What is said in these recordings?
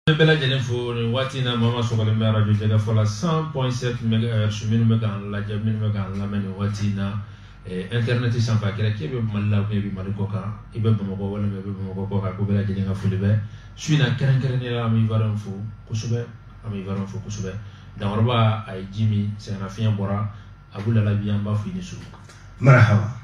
An bɛɛ lajɛlen fo nin waati in na maa ma sɔgɔlen bɛ arajo Jɛkafɔ la 100.7 megahertz minnu bɛ k'an lajɛ minnu bɛ k'an lamɛn nin waati in na eh, internet sanfɛ a kɛra k'e bɛ Mali la ou bien i bɛ Mali kɔ kan i bɛ Bamakɔ walima i bɛ Bamakɔ kɔ kan ko bɛɛ lajɛlen ka foli bɛ su in na kɛrɛnkɛrɛnnenya la an bɛ Ivoirien fo kosɛbɛ an bɛ Ivoirien fo kosɛbɛ Dankɔrɔba a ye ji min sɛgɛnnafiɲɛ bɔra Abu Lalabi an b'a fo i ni su. Marahaba.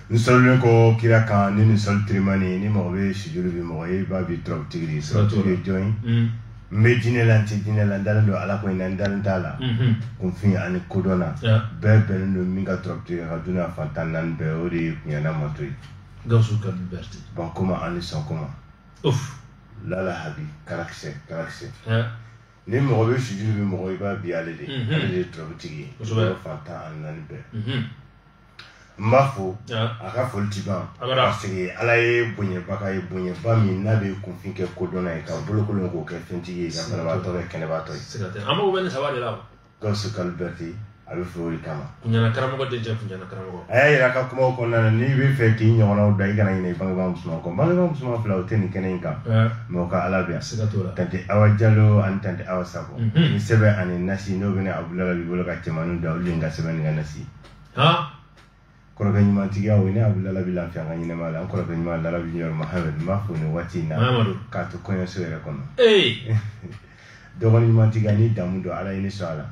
n salilen kɔ kira kan ni nin sɔli tirimani ni mɔgɔ bɛ sujuru bi mɔgɔ ye i b'a bi turabu tigiri sɔrɔtu ye jɔn ye mm. n bɛ diinɛ la n tɛ diinɛ la n dalen don ala ko in na n dalen t'a la mm-hmm. kunfin ani kodɔnna bɛɛ bɛnnen don min ka turabu tigiri ka duniya fan tan naani bɛɛ o de ye kunɲana mato ye gawusu kalilu bɛrite bankoma ani sɔnkoma lala habi karakisɛ karakisɛ ni mɔgɔ bɛ sujuru bi mɔgɔ i b'a bi ale de mm-hmm. ale de ye turabu tigi ye fan tan ani naani bɛɛ mm-hmm. n b'a fo a ka foli ti ban parce que ala ye bonɲɛbaga ye bonɲɛba min n'a bɛ kunfin kɛ kodɔnna ye ka bolokolon k'o kɛ fɛntigi ye ka banabaatɔ kɛ kɛnɛbaatɔ ye an mago bɛ nin saba de la gawusu kalilu bɛrite a bɛ fo o de kama kunɲana karamɔgɔ den cɛ kunɲana karamɔgɔ a y'a yira ka kumaw kɔnɔna na n'i b'a fɛ k'i ɲɔgɔnnaw da i kana ɲinɛ i bangebaa musoman kɔ bangebaa musoman fila o tɛ nin kɛnɛ in kan mɛ o ka ala bɛ yan tante awa jalo ani tante awa sako ni sɛbɛn ani nasi n'o bɛ ne abu lalabi bolo ka cɛn minnu da olu de ka sɛbɛn ni ka nasi kɔrɔkɛ ɲuman tigiya o ne abu lalabi lafiya an ka ɲɛnamaya la an kɔrɔkɛ ɲuman lalabi ɲɔrɔ mahamadu n b'a fo nin waati in na k'a to kɔɲɔso yɛrɛ kɔnɔ dɔgɔni ɲuman tigiya ni damu don ala ye ne sɔn a la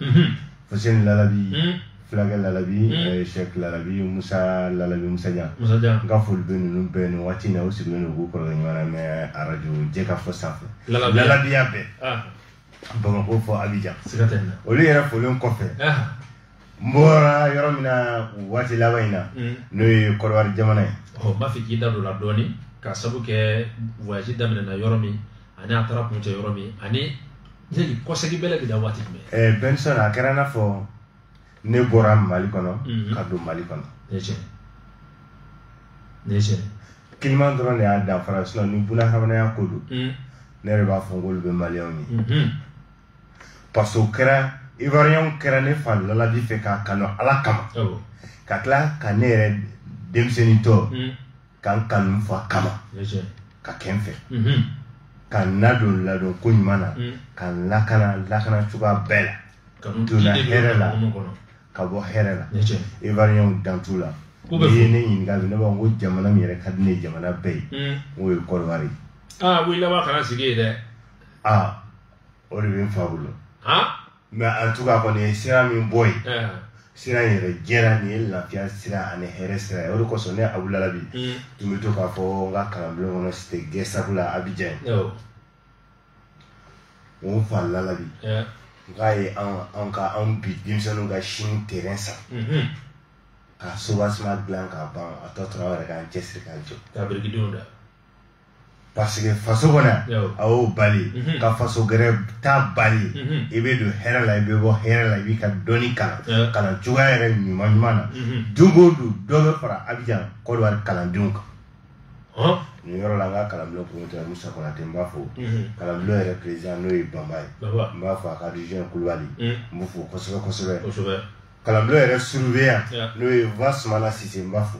fuseni mhm. lalabi mhm. fulakɛ lalabi mhm. eh, shɛk lalabi musa lalabi musajan n ka foli bɛ ninnu bɛɛ nin waati in na u sigilen don k'u kɔrɔkɛ ɲuman lamɛn arajo jɛkafɔ sanfɛ lalabiya bɛɛ ah. bamakɔ fɔ abijan olu yɛrɛ folen kɔfɛ ah. n bɔra yɔrɔ min na waati laban in na mm. n'o ye kɔdiwari jamana ye n b'a fɛ k'i da don a la dɔɔni ka sabu kɛ voyage daminɛna yɔrɔ min ani a taara kuncɛ yɔrɔ min ani yali kɔsegi bɛlɛ bɛ da waati jumɛn eh, benson a kɛra n'a fɔ ne bɔra mali kɔnɔ mhm. ka don mali kɔnɔ ne tiɲɛ ne tiɲɛ kiliman dɔrɔn de y'a danfara sinɔn ni bunahadamadenya ko don mhm. ne yɛrɛ b'a fɔ n k'olu bɛ maliyɛnw ye mhm. parce que kɛra ivoiriyɛnw kɛra ne fa lalabi fɛ k'a kanu ala kama ka tila ka ne yɛrɛ denmisɛnnintɔ hmm. ka n kanu n fa kama ka kɛ n fɛ mhm. ka n ladon ladon ko ɲuman na hmm. ka n lakana lakana cogoya bɛɛ la donna hɛrɛ la ka bɔ hɛrɛ la ivoiriyɛnw dan t'u la n'i ye ne ɲininka bi ne b'a fɔ ko jamana min yɛrɛ ka di ne ye jamana bɛɛ ye hmm. n'o ye kɔdiwari ye. aa ko i laban kana sigi yen dɛ. aa o de bɛ n fa bolo mais en tout cas kɔni ye sira min bɔ yen sira in yɛrɛ jɛra nin ye lafiya sira ani hɛrɛ sira ye o de kosɔn ne abu lalabi mm. tun bɛ to k'a fɔ n ka kalanbulon kɔnɔ cité gesco la abijan o n fa lalabi k'a ye an ka an bi denmisɛnninw ka sini terrain san mm-hmm. ka soubassement dilan k'a ban a tɔ tora anw yɛrɛ k'an cɛsiri k'an jɔ ka birikidenw da parce que faso kɔnɔ a y'o bali mhm. ka faso gɛrɛ ta bali mhm. i bɛ don hɛrɛ la i bɛ bɔ hɛrɛ la i b'i ka dɔnni kalan kalan cogoya yɛrɛ ɲuman ɲuman na mhm. don o don dɔ bɛ fara abijan kɔdiwari kalandenw kan nin yɔrɔ la an ka kalanbulon promoteur musa konate n b'a fo kalanbulon yɛrɛ président n'o ye banba ye n b'a fo a ka region kulubali n b'o fo kosɛbɛ kosɛbɛ kalanbulon yɛrɛ surveillant n'o ye vasumana sise n b'a fo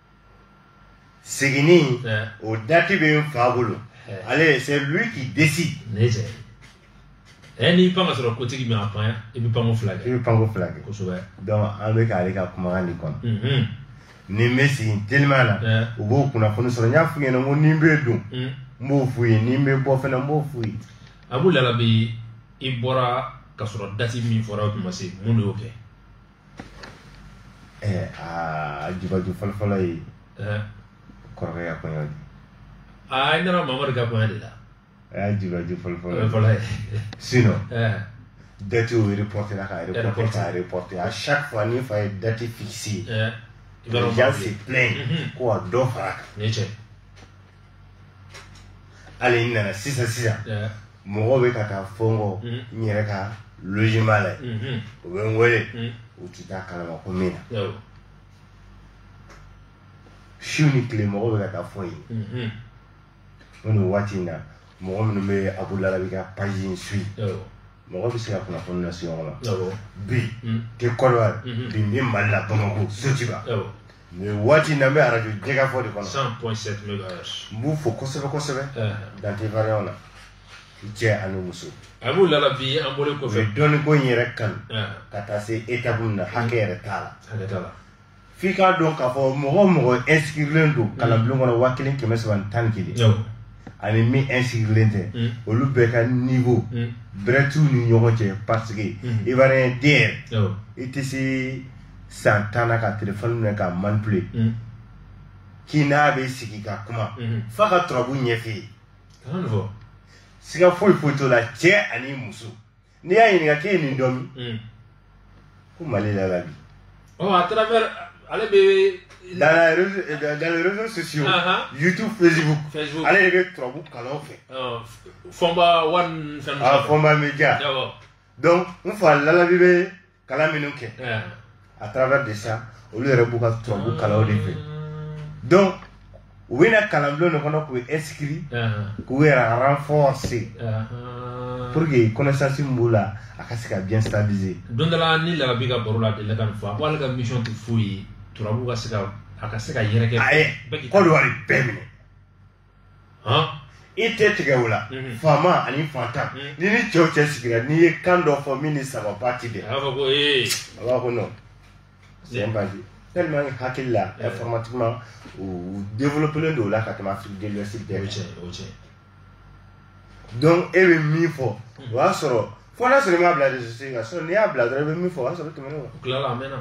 seginni o dati bɛ n fa bolo ale c'est lui qui décide. ne cɛ ɛ n'i pan ka sɔrɔ kotigi ma pan i bɛ panko fila kɛ. i bɛ panko fila kɛ. kosɛbɛ. donc an bɛ k'ale ka kumakan de kɔnɔ. ni n bɛ segin teliman na u b'o kunnafoni sɔrɔ n y'a f'u ɲɛna ko ni n bɛ don n b'o f'u ye ni n bɛ bɔ fana n b'o f'u ye. abu lalabi i bɔra ka sɔrɔ dati min fɔra o tun ma se mun de y'o kɛ. Eh, aa jubaju fɔlɔfɔlɔ ye eh. kɔrɔkɛ ka kɔɲɔ de aa i nana mamadu ka kɔɲɔ de la a y'a jubaju fɔlɔfɔlɔ ye sinon eh. date o reportéla k'a reporter k'a reporter à chaque fois ni n fa ye date fixer les gens se plaignent ko ka dɔ fara a kan hali n nana sisan sisan mɔgɔw bɛ ka taa fɔ n kɔ n yɛrɛ ka logement la yen u bɛ n wele u tun t'a kalama ko min na su ni tile mɔgɔw bɛ ka taa fɔ yen ko nin waati in na mɔgɔ minnu bɛ abu lalabi ka page in suivre mɔgɔ bɛ se ka kunnafoni lase ɲɔgɔn ma bi tɛ kɔrɔya bi n bɛ mali la bamakɔ sotuba nin waati na n bɛ arajo jɛkafɔ de kɔnɔ 100.7 megahertz n b'u fo kosɛbɛ kosɛbɛ eh. dante variant la cɛ ani muso abu lalabi an bɔlen kɔfɛ u ye dɔnni ko in yɛrɛ kanu eh. ka taa se étape min na hakɛ yɛrɛ t'a la hakɛ t'a la f'i k'a dɔn k'a fɔ mɔgɔ mɔgɔ inscrilen don kalanbulon kɔnɔ waa kelen kɛmɛ saba ni tan ni kelen ani min inscrilen tɛ mm. olu bɛɛ ka niveau mm. bɛrɛ t'u ni ɲɔgɔn cɛ parce que mm. ivoirien den yɛrɛ i tɛ se san tan na ka telefɔni minɛ ka manipule mm. k'i n'a bɛ sigi ka kuma mm-hmm. f'a ka turabu ɲɛf'i ye siga foyi foyi t'o la cɛ ani muso n'i y'a ɲininka k'e ye nin dɔn min mm. ko Mali Lalabi oh, à travers ale bɛ dans la réseau euh, dans les réseaux sociaux uh -huh. YouTube Facebook Facebook ale de bɛ turabu kalan fɛ oh, Fɔnba one fɛn ah Fɔnba Media donc n fa Lalabi bɛ kalan minnu kɛ à travers de ça olu yɛrɛ b'u ka turabu kalan o de fɛ donc u bɛ na kalanbulon de kɔnɔ k'u inscrit k'u yɛrɛ renforcer pour que connaissance min b'u la a ka se ka bien stabiliser don dɔ la ni Lalabi ka baro la a delila ka nin fɔ a ko ale ka mission tɛ foyi ye turabu ka se ka a ka se ka yɛrɛkɛ a ye Kɔdiwari bɛɛ minɛ i tɛ tigɛ o la mhm. faama ani fantan mhm. ni ni cɛw cɛ sigira n'i ye kan dɔ fɔ min ni sababa ti bɛn a b'a fɔ ko ee a b'a ko non c'est un bandit tellement que hakilila informatiquement u développelen don o la ka tɛmɛ Afrique de l'Ouest bɛɛ kan donc e bɛ min fɔ o y'a sɔrɔ fo n'a sɔrɔ i m'a bila réseaux sociaux kan sinon n'i y'a bila dɔrɔn i bɛ min fɔ o y'a sɔrɔ tɛmɛnen kɔ o tilala a mɛnna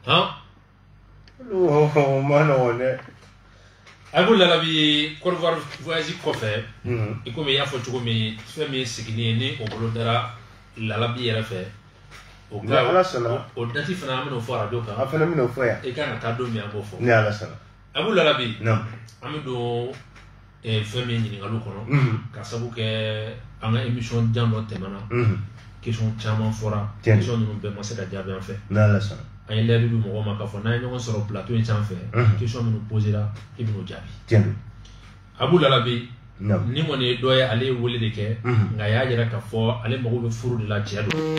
han o man nɔgɔn dɛ Abu Lalabi Côte d'Ivoire voyage kɔfɛ i komi i y'a fɔ cogo min fɛn min ye sigini ye ni o bolodara Lalabi yɛrɛ fɛ o ka ala sɔnna o dati fana an bɛn'o fɔ arajo kan a fana bɛn'o fɔ yan i kan ka taa don min an b'o fɔ ni ala sɔnna Abu Lalabi an bɛ don eh, fɛn min ɲininkali kɔnɔ mhm. ka sabu kɛ an ka émission jan dɔ tɛmɛna mhm. question caman fɔra question ninnu bɛɛ ma se ka jaabi an fɛ an ye layidu di mɔgɔw ma k'a fɔ n'an ye ɲɔgɔn sɔrɔ plateau in sanfɛ mhm. question minnu posera i bɛn'o jaabi Abu Lalabi nin kɔni ye dɔ ye ale ye wele de kɛ nka a y'a jira k'a fɔ ale mago bɛ furu de la cɛ don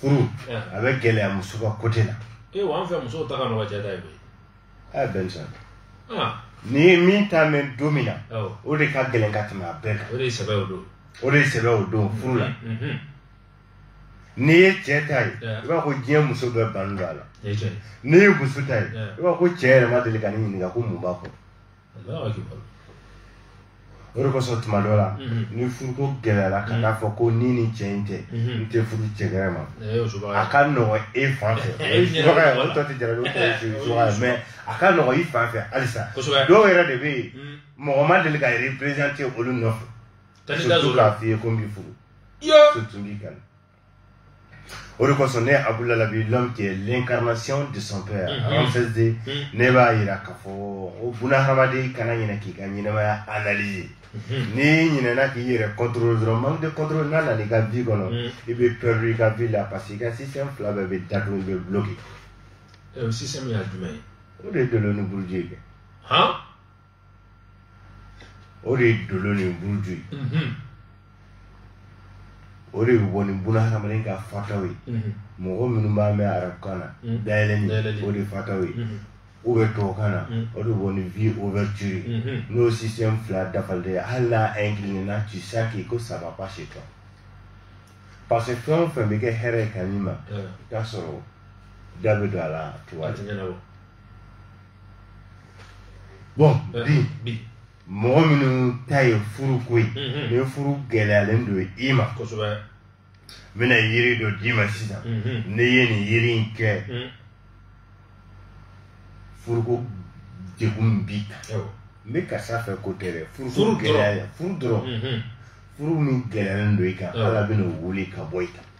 furu a bɛ gɛlɛya muso ka côté la ee wa an fɛ musow ta ka nɔgɔn cɛ ta ye koyi a bɛn sa n'i ye min ta mɛn don min na o de ka gɛlɛn ka tɛmɛ a bɛɛ kan o de ye sɛbɛ o don o de ye sɛbɛ o don furu la mm-hmm, mm-hmm. n'i ye cɛ ta ye i b'a ko diɲɛ muso bɛɛ bannen don a la n'i ye muso ta ye i b'a ko cɛ yɛrɛ ma deli ka ne ɲininka ko mun b'a kɔnɔ o de kosɔn tuma dɔ la mhm. ni furuko gɛlɛyara ka t'a mhm. fɔ ko ni nin cɛ in tɛ mhm. n tɛ furu cɛ gɛrɛ ma a ka nɔgɔn e fan fɛ o ye subaga ye o tɔ tɛ jarabi o tɔ ye subaga ye mais a ka nɔgɔn i fan fɛ halisa dɔw yɛrɛ de bɛ yen mɔgɔ ma deli ka représenter olu nɔfɛ surtout k'a f'i ye ko n b'i furu surtout n b'i kanu o de kosɔn ne abudulayi labi l'homme qui est l'incarnation de son père mhm. en fait de mhm. ne b'a yira k'a fɔ o buna hadamaden kana ɲinɛ k'i ka ɲɛnɛmaya analyser mhm. n'i ɲinɛna k'i yɛrɛ contrôler dɔrɔn manque de contrôle n'a nana i ka vie kɔnɔ i bɛ perdre i ka vie la parce que i ka système fila bɛɛ bɛ datugu bɛ bloquer. système ye jumɛn ye. o de ye dolo ni buruju ye kɛ. o de ye dolo ni buruju ye mhm. o de bɛ bɔ ni buna hadamaden ka fataw ye mhm. mɔgɔ minnu b'a mɛn arabukan na mhm. dayɛlɛni o de fataw ye ou bɛ tubabukan na o de bɛ bɔ ni vie ouverture ye n'o système fila dafalen ye hali n'a incliné na tu sais que ko ça va pas chez toi parce que fɛn o fɛn bɛ kɛ hɛrɛ ye ka n'i ma i t'a sɔrɔ da bɛ don a la tu vois bɔn eh, bi bi mɔgɔ minnu ta ye furu ko ye mhm. ni furu gɛlɛyalen don i ma kosɛbɛ n bɛna yiri dɔ d'i ma sisan mhm. ne ye nin yiri in kɛ mhm. furuko degun b'i kan n bɛ karisa fɛ ko tɛ dɛ furuko gɛlɛya furu dɔrɔn furu min gɛlɛyalen don i kan ala bɛna o wuli ka bɔ i kan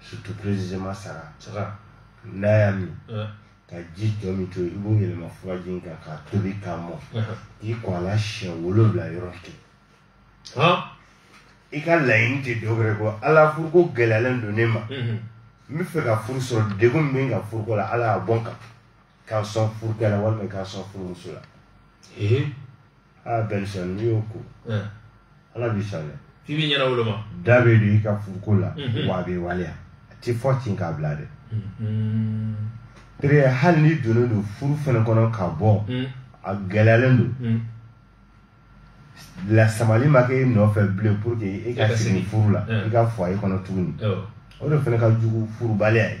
surtout précisément saga saga n'a y'a min ka ji tɔ min to i b'o yɛlɛma furaji in kan k'a tobi k'a mɔ k'i ko a la siɲɛ wolonwula yɔrɔ kelen i ka laɲini tɛ dɔ wɛrɛ kɔ ala furuko gɛlɛyalen don ne ma n bɛ fɛ ka furu sɔrɔ degun min bɛ n kan furuko la ala y'a bɔ n kan k'a sɔn furukɛ la walima k'a sɔn furumuso la aa bɛnsan n'i y'o ko ala b'i sɔn dɛ f'i b'i ɲɛnawoloma da bɛ don i ka furuko la mhm. wa a bɛ waleya a tɛ fɔ ten k'a bila dɛ mhm. pere hali n'i donnen don furu fana kɔnɔ ka bɔ mhm. a gɛlɛyalen don lasamali ma kɛ e nɔfɛ bilen pour que e ka segin furu la i ka foyer kɔnɔ tuguni o de fana ka jugu furubaliya ye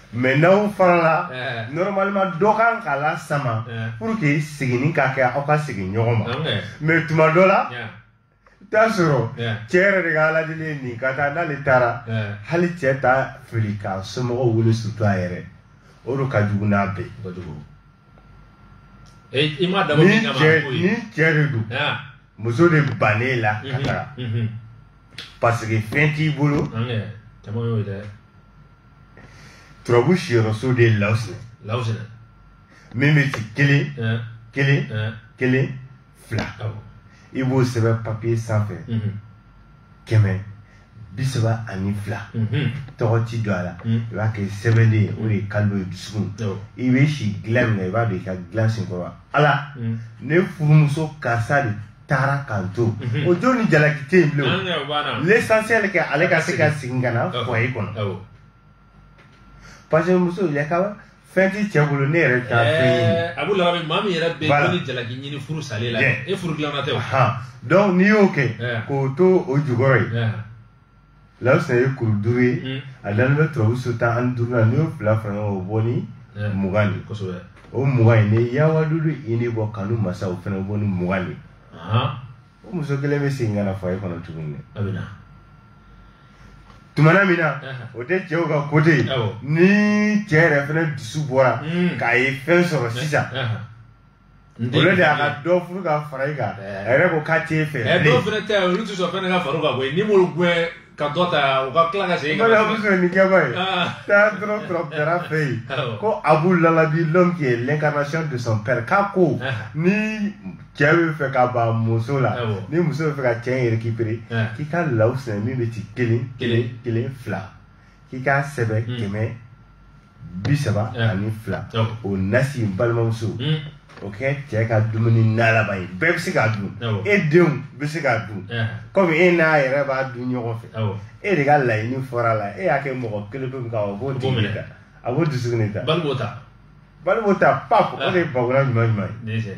mais n'aw farala eh. normalement dɔ kan k'a lasama eh. pour que seginni ka kɛ aw ka segin ɲɔgɔn ma mais tuma dɔ la t'a sɔrɔ cɛ yɛrɛ de ka aladeli ye nin ka taa n'ale taara hali cɛ t'a fili k'a somɔgɔw wele surtout a yɛrɛ o de ka jugu n'a bɛɛ ni cɛ de don muso de bannen la ka mhm, taga mhm. parce que fɛn t'i bolo caman y'o ye dɛ turabu siyɔrɔ so de ye lawusinɛ lawusinɛ min bɛ ci kelen kelen kelen fila i b'o sɛbɛn papiye sanfɛ kɛmɛ bi saba ani fila tɔgɔ tɛ don a la i b'a kɛ sɛbɛnden ye o de ye kalibu ye dusukun i bɛ si dilan min na i b'a don i ka dilan senkɔrɔ ala ne furumuso karisa de taara k'an to mhm. o jo ni jalaki tɛ yen bilen l'essentiel kɛ ale ka se ka segin ka na foyer kɔnɔ parce que muso yakaba fɛn t'i cɛ bolo ne yɛrɛ t'a eh, fɛn ɲini a b'o laban maa min yɛrɛ bɛ jo ni jalaki ɲini furu salen la e furu dilanna tɛ o donc n'i y'o kɛ eh. k'o to o jukɔrɔ yen eh. Lawusinɛ ye kuru duuru ye mm. a dalen bɛ turabu so tan ani duuru la n'i y'o fila fara ɲɔgɔn kan o bɔ ni mugan de kosɛbɛ o mugan in ni yawadudu ini bɔ kanu masa o fana bɔ ni mugan de o muso kelen bɛ segin ka na foyer kɔnɔ tuguni dɛ a bɛ na tumana min na o tɛ cɛw ka côté ye ni cɛ yɛrɛ fana dusu bɔra mm. k'a ye fɛn sɔrɔ sisan olu de y'a ka dɔ furu ka fara i kan eh. a yɛrɛ ko k'a t'e fɛ eh, dɔw fana tɛ olu tɛ sɔn fɛn ka fara u kan koyi n'i m'olu gɛn ka dɔ ta u ka tila ka segin ka na muso ni kɛba ye ah. taa dɔrɔn turabudala fɛ yen ko abu lalabi l'homme qui est l'incarnation de son père k'a ko ah. ni cɛ bɛ fɛ ka ban muso la ah, ni muso bɛ fɛ ka cɛ in récupérer k'i ka lawusinɛ min bɛ ci kelen kelen kelen fila k'i k'a sɛbɛn hmm. kɛmɛ bi saba eh. ani fila oh. o nasi balimamuso hmm. o kɛ cɛ ka dumuni nalaba ye bɛɛ bɛ se k'a dun oh. e denw bɛ se k'a dun eh. kɔmi e n'a yɛrɛ b'a dun ɲɔgɔn fɛ oh. e de ka laɲini fɔr'a la e y'a kɛ mɔgɔ kelen pe min kan o b'o tigi ta a b'o dusukun de ta bali b'o ta pap o eh. de ye bakura ɲuman ɲuman ye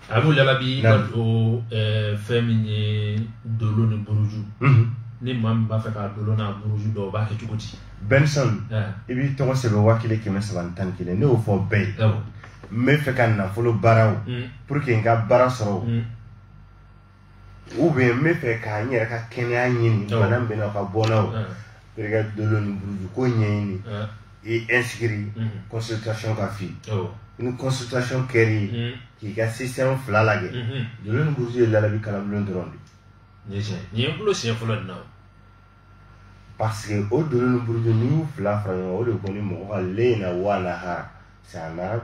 abu lalabi o fɛn min ye dolo ni buruju ni maa min b'a fɛ k'a dolo n'a buruju dɔn o b'a kɛ cogo di benson i b'i tɔgɔ sɛbɛn waa kelen kɛmɛ saba ni tan ni kelen ne y'o fɔ bɛɛ ye n bɛ fɛ ka nafolo baara o pour que n ka baara sɔrɔ o ou bien n bɛ fɛ ka n yɛrɛ ka kɛnɛya ɲini bana min bɛ n na ka bɔ n'aw terikɛ dolo ni buruju ko ɲɛɲini i inscrit consultation ka fi ni consultation kɛra k'i ka système fila lajɛ dolo ni buruju ye lalabi kalanbulon dɔrɔn de nin ye tiɲɛ nin ye n bolo siɲɛ fɔlɔ nin na parce que o dolo ni buruju n'i y'u fila fara ɲɔgɔn o de ko ni mɔgɔ ka le in na wa lahara c'est un arabe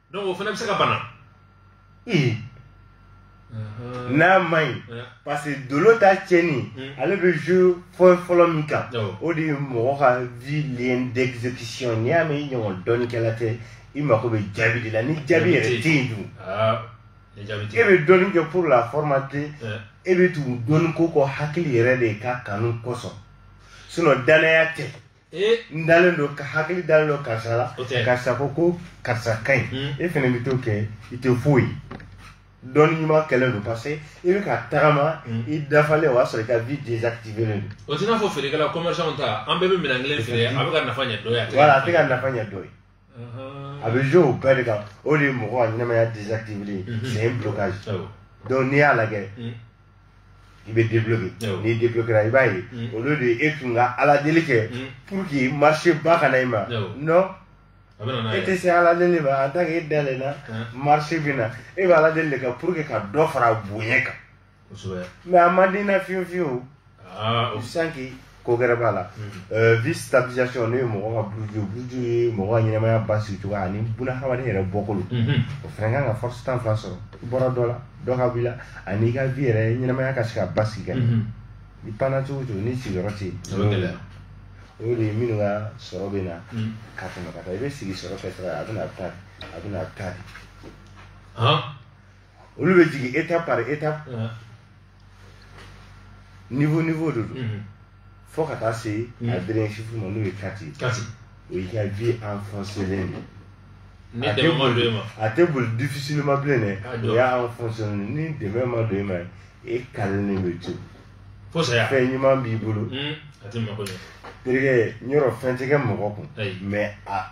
donc o fana bɛ se ka bana ee n'a man ɲi parce que dolo ta tiɲɛnen ale bɛ jouer fɔlɔ fɔlɔ min kan o de ye mɔgɔ ka vie lien d'exécution n'i y'a mɛn i ɲɔgɔn dɔnnikɛla tɛ i mako bɛ jaabi de la ni jaabi yɛrɛ tɛ yen dun e bɛ dɔnni kɛ pour la formalité e bɛ tugu dɔnni ko kɔ hakili yɛrɛ de ka kanu kosɔn sinon danaya tɛ Eh. n dalen don ka hakili dalen don karisa la karisa ko ko karisa ka ɲi hmm. e fana bɛ to kɛ i tɛ foyi dɔnni ɲuman kɛlen don parce que i bɛ ka tagama hmm. i dafalen o y'a sɔrɔ i ka vie désactivélen don o t'i n'a fɔ feerekɛla commerçant ta an bɛɛ bɛ minɛn kelen feere a bɛ ka nafa ɲɛ dɔ ye a tɛ ka nafa ɲɛ dɔ ye a bɛ jouer o bɛɛ de kan o de ye mɔgɔ ka ɲɛnamaya désactivelen ye c'est un blocage donc ni ala y'a kɛ i bɛ débloquer n'i débloquera i b'a ye au lieu de e tun ka ala deli kɛ pour que marché ba ka na i ma non e tɛ se ala deli ma en tant que e dalen na marché bɛ na e bɛ ala deli de kɛ pour que ka dɔ fara bonya kan kosɛbɛ mais a man di n na fiyewu fiyewu aa o cinq ko gɛrɛ b'a la Euh, vie stabilisation n'o ye mɔgɔ ka buruju buruju ye mɔgɔ ka ɲɛnamaya basigi cogoya ani bunahadamaden yɛrɛ bɔkolo Mhm. o fana kan ka force tan fila sɔrɔ i bɔra dɔ la dɔ ka b'i la ani i ka vie yɛrɛ ɲɛnamaya ka se ka basigi ka ɲɛ Mhm. i panna cogo o cogo ni sigiyɔrɔ tɛ yen o bɛ gɛlɛya o y'o de ye minnu ka sɔrɔ bɛ na Mhm. ka tɛmɛ ka taa i bɛ sigi sɔrɔ kɛ sira la a bɛ na a bɛ taa a bɛ na a bɛ taa de han olu bɛ jigin étape par étape niveau niveau de don fo ka taa se a dernier chiffre ma n'o ye quatre o y'i ka vie enfoncelen de a tɛ boli a tɛ boli difficilement bilen dɛ ah, o y'a enfoncelen ni dɛmɛ ma don e ma e calelen bɛ to fɛn ɲuman b'i bolo hmm, terikɛ yɔrɔ fɛn tɛ kɛ mɔgɔ kun mais a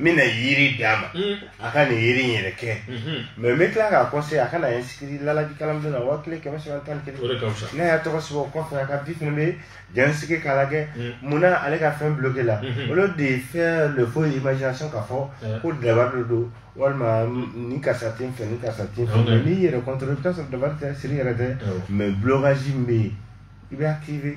n bɛna yiri d'a ma a ka nin yiri in yɛrɛ kɛ mais n bɛ tila k'a conseiller a ka na inscrire laji kalanbulon na waa kelen kɛmɛ saba tan ni kelen n'a y'a tɔgɔ sɛbɛn o kɔfɛ a ka vie fana bɛ jɛnsigi k'a lajɛ mun na ale ka fɛn bloquela au lieu de faire le faux imagination ka fɔ ko dabari de don walima ni karisa tɛ n fɛ ni karisa tɛ n fɛ mais n'i yɛrɛ contrôle i bɛ t'a sɔrɔ dabari tɛ siri yɛrɛ tɛ mais blocage min bɛ yen i bɛ activer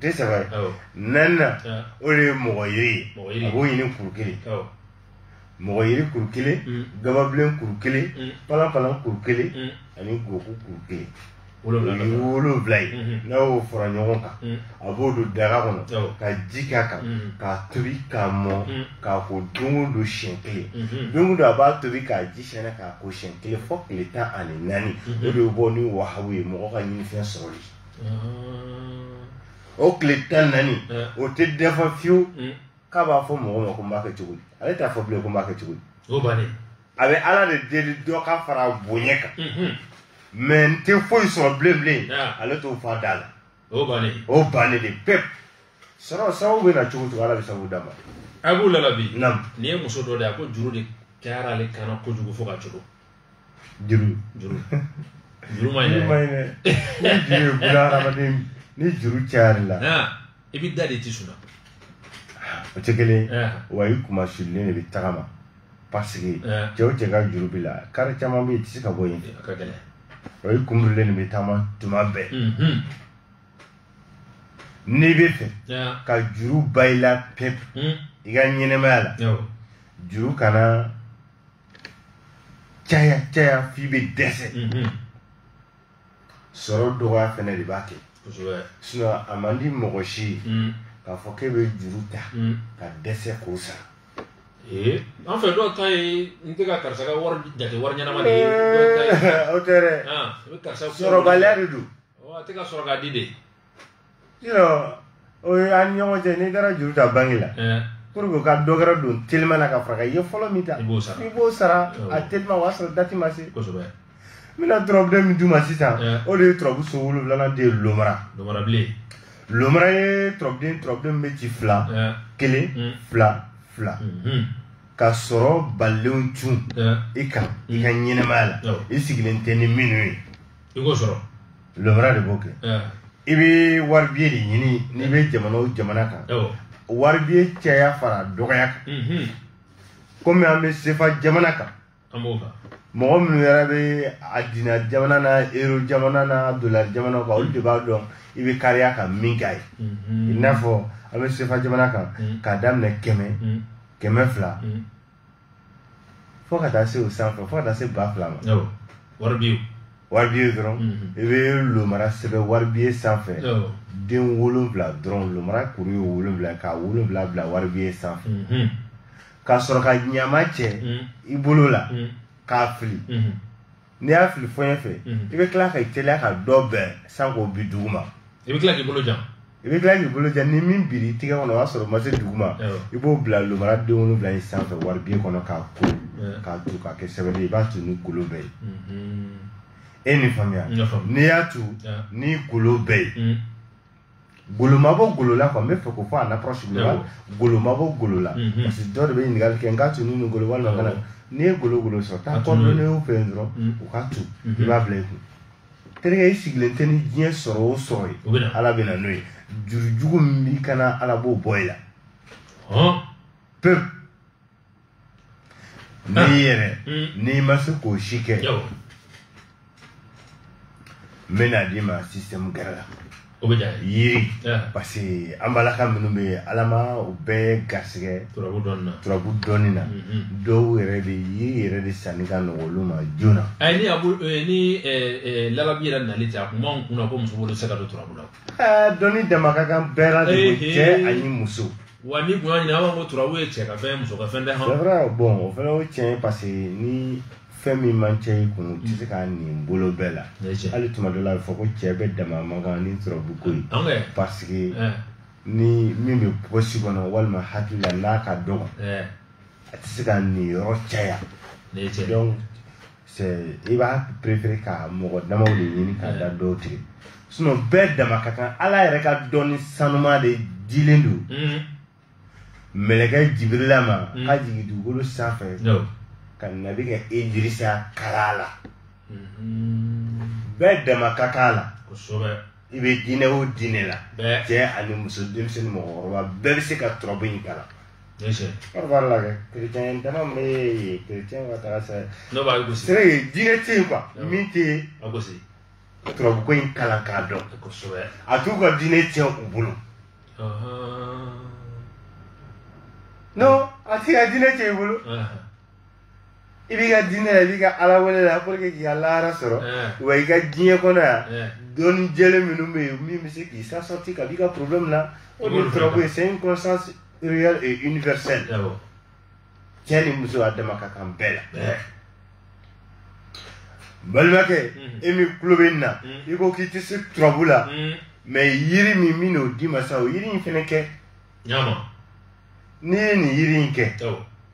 tɛ saba ye naaninan o de ye mɔgɔ yiri ye a b'o ɲini kuru kelen mɔgɔ yiri kuru kelen mm. gababilen kuru kelen mm. palanpalan kuru kelen mm. ani goku kuru kelen wolonwula ye mm-hmm. n'a y'o fara ɲɔgɔn kan a b'o don daga kɔnɔ ka ji k'a kan k'a tobi k'a mɔ k'a ko don o don siɲɛ kelen mm-hmm. don o don a b'a tobi k'a ji sɛnɛ k'a ko siɲɛ kelen fɔ tile tan ani naani mm-hmm. o de bɛ bɔ ni wahabu ye mɔgɔ ka ɲinifɛn sɔrɔli o tile tan naani o tɛ dafa fiyewu mm. k'a b'a fɔ mɔgɔ ma ko n b'a kɛ cogo di ale t'a fɔ bilen ko n b'a kɛ cogo di o bannen a bɛ ala de deli dɔ ka fara a bonya kan mm-hmm. mais n tɛ foyi sɔrɔ bilen bilen ale t'o fɔ a da la o bannen o bannen de pewu sɔrɔ sababu bɛ na cogo cogo ala bɛ sababu d'a ma a b'u lalabi nin ye muso dɔ de ye a ko juru de kɛra ale kan na kojugu fo ka cogo juru juru juru ma ɲi dɛ ni juru ye buna hadamaden ni juru cayar'i la i bɛ da de t'i sunna o tɛ kelen ye wa i kunmasulilen de bɛ tagama parce que cɛ o cɛ ka juru b'i la kare caman bɛ yen i tɛ se ka bɔ yen o i kunbirilen de bɛ taama tuma bɛɛ n'i b'a fɛ ka juru ban i la pewu i ka ɲɛnamaya la juru kana caya caya f'i bɛ dɛsɛ sɔrɔ dɔgɔya fɛnɛ de b'a kɛ sinon a man di mɔgɔ si ye mm. k'a fɔ k'e bɛ juru ta mm. ka dɛsɛ k'o sara Eh, an fɛ dɔw ta ye n tɛ ka karisa ka wari jate wari ɲɛnama de ye eh, o tɛ dɛ ah, sɔrɔbaliya de don a tɛ ka sɔrɔ ka di de o ye an ni ɲɔgɔn cɛ n'i taara juru ta banki la pour que ka dɔ wɛrɛ don teliman na ka fara i ye fɔlɔ min ta i b'o sara a teliman o y'a sɔrɔ dati ma se n bɛna turabuden min d'u ma sisan o de ye turabu so wolonwulanan de ye lomara lomara ye turabuden turabuden min bɛ ci fila kelen hmm. fila fila hmm. ka sɔrɔ balilenw cun i kan i ka ɲɛnɛmaya la i sigilen tɛ ni minnu ye i k'o sɔrɔ lomara de b'o kɛ i bɛ waribiye de ɲini n'i bɛ jamana o jamana kan waribiye caya fara dɔgɔya kan mhm. komi an bɛ sefa jamana kan mɔgɔ minnu yɛrɛ bɛ a dina jamana na ero jamana na dolari jamana kan olu de b'a dɔn i bɛ kariya ka min k'a ye mhm. i n'a fɔ an bɛ sefa jamana kan mhm. k'a daminɛ kɛmɛ kɛmɛ fila fo ka taa se o sanfɛ fo ka taa se ba fila ma waribiye waribiye dɔrɔn i bɛ lomara sɛbɛn waribiye sanfɛ den wolonwula dɔrɔn lomara kuru ye wolonwula k'a wolonwula bila waribiye sanfɛ ka sɔrɔ ka ɲaman cɛ i bolo la k'a fili n'i y'a fili fɔɲɛ fɛ i bɛ tila ka i teliya ka dɔ bɛn san k'o bin dugu ma i bɛ tila k'i bolo jan i bɛ tila k'i bolo jan ni min biri i tigɛ kɔnɔ o y'a sɔrɔ o ma se dugu ma i b'o bila lomara den wolonwula in sanfɛ waribiye kɔnɔ k'a ko k'a tu k'a kɛ sɛbɛn ye i b'a tu ni golo bɛɛ ye e ni faamuya n'i y'a tu ni golo bɛɛ ye golo ma bɔ golo la quoi n bɛ fɛ k'o fɔ en approche globale golo ma bɔ golo la parce que dɔw de bɛ ɲininkali kɛ n k'a tu ni nin golo walima kana n'i ye golo golo sɔrɔ taa cordonnierw fɛ yen dɔrɔn u k'a tu i b'a bila i kun terikɛ i sigilen tɛ ni diɲɛ sɔrɔ o sɔrɔ ye ala bɛ na n'o ye juru jugu min b'i kan na ala b'o bɔ i la pewu ne yɛrɛ mm. n'i ma se k'o si kɛ n bɛn'a d'i ma système gɛrɛ la o bɛ diya yiri parce que an balaka minnu bɛ yen ala ma u bɛɛ garisɛgɛ turabu dɔnni na turabu dɔnni na dɔw yɛrɛ de yiri yɛrɛ de sanni ka nɔgɔ olu ma joona. ayi ni abu ni lalabi yɛrɛ nali tɛ a kun b'anw kun na ko muso bolo tɛ se ka don turabu la. Eh, dɔnni dama ka kan bɛɛ la de ko Ehe. cɛ ani muso wa ni kun y'a ɲini an b'a fɔ ko turabu ye cɛ ka fɛn ye muso ka fɛn tɛ c'est hɔn vrai bon o fana o tiɲɛ ye parce que ni fɛn min man ca i kun u tɛ se k'a nin bolo bɛɛ la Ne cɛ. hali tuma dɔ la a bɛ fɔ ko cɛ bɛɛ dama man kan ni turabu ko ye an kɛ parce que ɛɛ ni min bɛ posi kɔnɔ walima hakili la n'a ka dɔgɔ ɛɛ a tɛ se ka nin yɔrɔ caya ne cɛ donc i b'a préférer ka mɔgɔ damaw de ɲini k'a da dɔw tigɛ sinon bɛɛ dama ka kan ala yɛrɛ ka dɔnni sanuma de dilen don mm. mɛlɛkɛ jibirila ma mm. k'a jigin dugukolo sanfɛ ka nabi kɛ idirisa kalan a la mm-hmm. bɛɛ dama ka kan a la i bɛ diinɛ o diinɛ la cɛ ani muso denmisɛnnin mɔgɔkɔrɔba bɛɛ bɛ se ka turabu in kalan kɔrɔba la kɛ kerecɛn dama bɛ yen kerecɛn ka taga sira ye diinɛ tɛ yen quoi min tɛ turabu ko in kalan k'a dɔn a t'u ka diinɛ tiɲɛ u bolo non a t'i ka diinɛ tiɲɛ i bolo i b'i ka diinɛ la i b'i ka ala wele la pour que k'i ka lahara sɔrɔ wa i ka diɲɛ kɔnɔ yan dɔnni jɛlen minnu bɛ yen min bɛ se k'i sa sorti ka b'i ka problème na o de ye turabu ko ye c'est une connaissance réelle et universelle cɛ ni muso a dama ka kan bɛɛ la balimakɛ e min tulo bɛ nin na i ko k'i tɛ se turabu la mais yiri min min n'o d'i ma sa o yiri in fana kɛ n'i ye nin yiri in kɛ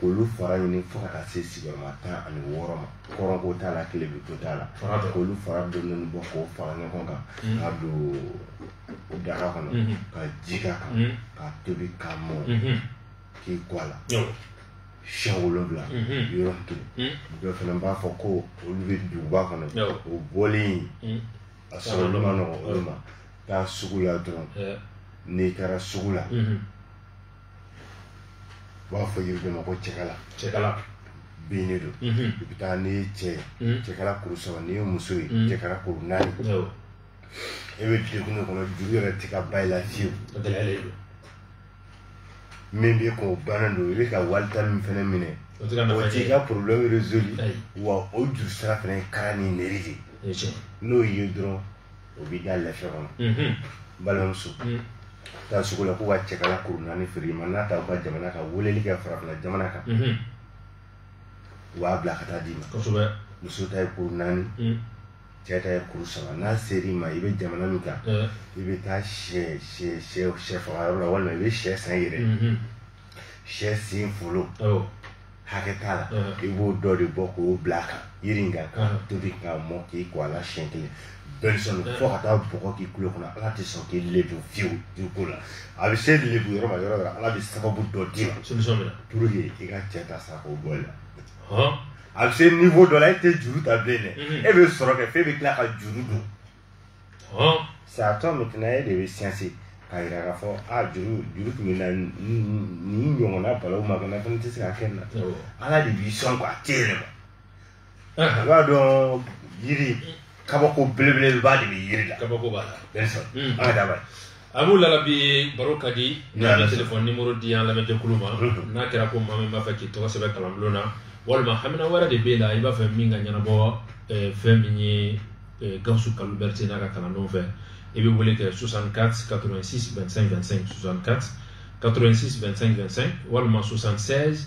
k'olu fara ɲini fo ka taa se sigiyɔrɔma tan ani wɔɔrɔ ma kɔrɔn ko t'a la tilebin ko t'a la k'olu fara dɔɔni bɔ k'o fara ɲɔgɔn kan mm. k'a don daga kɔnɔ mm-hmm. ka ji k'a kan mm-hmm. k'a tobi ka mɔ mm-hmm. k'i ko a la siɲɛ wolonwula yɔrɔ kelen dɔ fana b'a fɔ ko olu bɛ duguba kɔnɔ o bɔlen mm. a sɔrɔli man nɔgɔ olu ma taa sugu la dɔrɔn n'i taara sugu la u b'a fɔ yiri dɔ ma ko cɛkala cɛkala bin de don i bɛ taa n'i ye cɛ ye cɛkala kuru saba n'i ye muso ye cɛkala kuru naani e bɛ degun de kɔnɔ juru yɛrɛ tɛ ka ban i la fiyewu min bɛ k'o bannen don i bɛ ka wali ta min fana minɛ o t'i ka problème résolu wa o juru sara fana ye kara ni nɛri de ye n'o y'i ye dɔrɔn o b'i da lafiya kɔnɔ n balimamuso taa sugu la k'u ka cɛkala kuru naani feere ma n'a t'aw ka jamana kan weleli kɛ farafina jamana kan u b'a bila ka taa d'i ma muso ta ye kuru naani cɛ ta ye kuru saba n'a ser'i ma i bɛ jamana min kan i bɛ taa sɛ faga yɔrɔ la walima i bɛ sɛ san i yɛrɛ sɛ sen folo hakɛ t'a la i b'o dɔ de bɔ k'o bila a kan yiri in kan k'a tobi k'a mɔ k'i ko a la siɲɛ kelen bien sûr fo ka taa bɔgɔ k'i kulo kɔnɔ ala tɛ sɔn k'i lebu fiyewu dugu la a bɛ se lebu yɔrɔ ma yɔrɔ o yɔrɔ ala bɛ sababu dɔ d'i ma pour que i ka cɛ ta sa k'o bɔ i la a bɛ se niveau dɔ la e tɛ juru ta bilen dɛ e bɛ sɔrɔ kɛ f'e bɛ tila ka juru don c'est à toi maintenant e de bɛ siyansi k'a yira k'a fɔ a juru tun bɛ n na nin ɲɔgɔnna balawu ma kɛ n na fana tɛ se ka kɛ n na ala de b'i sɔn k'a tɛ yɛlɛma i b'a dɔn yiri kabako belebeleba de bɛ yiri la kabako b'a la bien sûr an ka dabali a b'u lala bi baro ka di n'a bɛ telefɔni nimɔrɔ di an lamɛnjɛkulu ma n'a kɛra ko maa min b'a fɛ k'i tɔgɔ sɛbɛn kalanbulon na walima hamina wɛrɛ de b'e la i b'a fɛ min ka ɲɛnabɔ eh, fɛn min ye eh, gawusu kalilu berete n'a ka kalandenw fɛ i bɛ wele kɛ 64 86 25 25 64 86 25 25 walima 76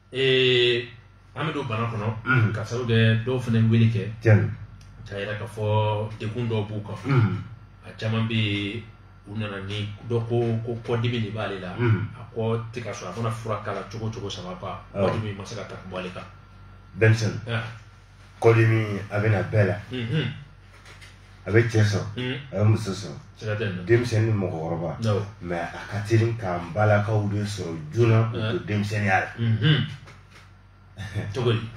ee an bɛ don bana kɔnɔ Mhm. ka sababu kɛ dɔw fana wele kɛ tiɲɛ k'a yira k'a fɔ degun dɔw b'u kan Mhm. a caman bɛ yen u nana ni dɔ ko kɔdimi de b'ale la Mhm. a kɔ tɛ ka sɔrɔ a mana fura k'a la cogo o cogo ça va pas Awɔ. kɔdimi ma se ka ta ka bɔ ale kan denmisɛnnin Ah, kɔdimi a bɛ na bɛɛ la a bɛ cɛ sɔrɔ a bɛ muso sɔrɔ denmisɛnnin ni mɔgɔkɔrɔba mais a ka teli k'an balakaw de sɔrɔ joona k'u to denmisɛnninya la cogo di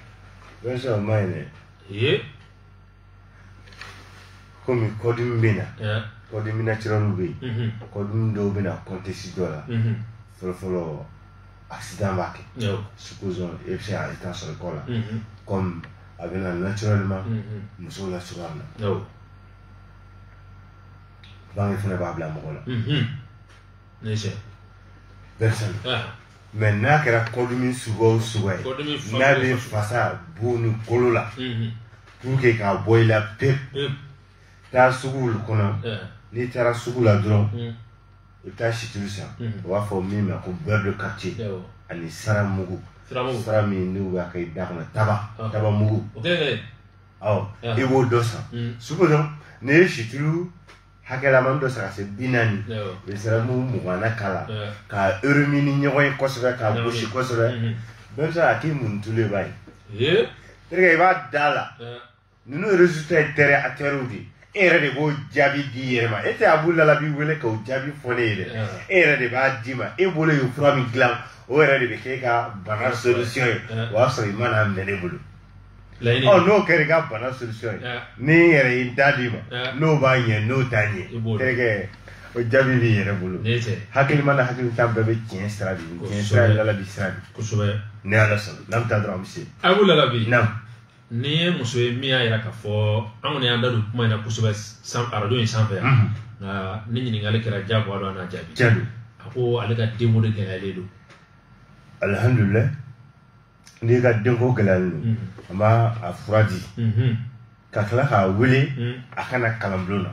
bien sûr o man ɲi dɛ komi kɔdimi bɛ na kɔdimi naturɛliw bɛ yen kɔdimi dɔw bɛ na contexte dɔ la fɔlɔfɔlɔ accident b'a kɛ supposons e bɛ se ka i ta sɔrɔ kɔ la comme a bɛ na naturellement musow la cogoya min na bange fana b'a bila mɔgɔ la ne sɛ denmisɛnnin mais n'a kɛra kɔdimi suguya o suguya ye n'a bɛ fasa bon ni kolo la pour que k'a bɔ i la pewu taa sugu kɔnɔ n'i taara sugu la dɔrɔn i bɛ taa situlu san u b'a fɔ min ma ko beurre de karité ani sara mugu sara min n'u b'a kɛ i da kɔnɔ taba taba mugu ɔ i b'o dɔ san sugu kɔnɔ n'i ye situlu hakɛlaman dɔ san ka se bi naani i bɛ sara mugu mugan na k'a la ka eremi ni ɲɔgɔn ye kosɛbɛ k'a gosi kosɛbɛ bɛɛ bɛ se ka k'i mun tulu ye b'a ye tereke i b'a da la ninnu résultat ye terre à terre de e yɛrɛ de b'o jaabi di i yɛrɛ ma e tɛ abu lalabi wele k'o jaabi fɔ ne ye dɛ e yɛrɛ de b'a d'i ma e bolo ye fura min dilan o yɛrɛ de bɛ kɛ e ka bana solution ye o y'a sɔrɔ i ma n'a minɛ ne bolo ɔ n'o kɛra i ka bana solution ye ni n yɛrɛ ye n da d'i ma n'o b'a ɲɛ n'o t'a ɲɛ terikɛ o jaabi b'i yɛrɛ bolo hakilima ni hakilintan bɛɛ bɛ tiɲɛ sira de tiɲɛ sira ye lalabi sira de kosɛbɛ ni ala sɔnna n'an bɛ taa dɔrɔn an bɛ se abu lalabi naam nin ye muso ye min y'a yira k'a fɔ an kɔni y'an da don kuma in na kosɛbɛ san arajo in sanfɛ yan nka ni ɲininkali kɛra jagoya don an n'a jaabi tiɲɛ don a ko ale ka denko de gɛlɛyalen don alihamdulilayi n'i ka denko gɛlɛyalen don an b'a a fura di ka tila k'a wele a ka na kalanbulon na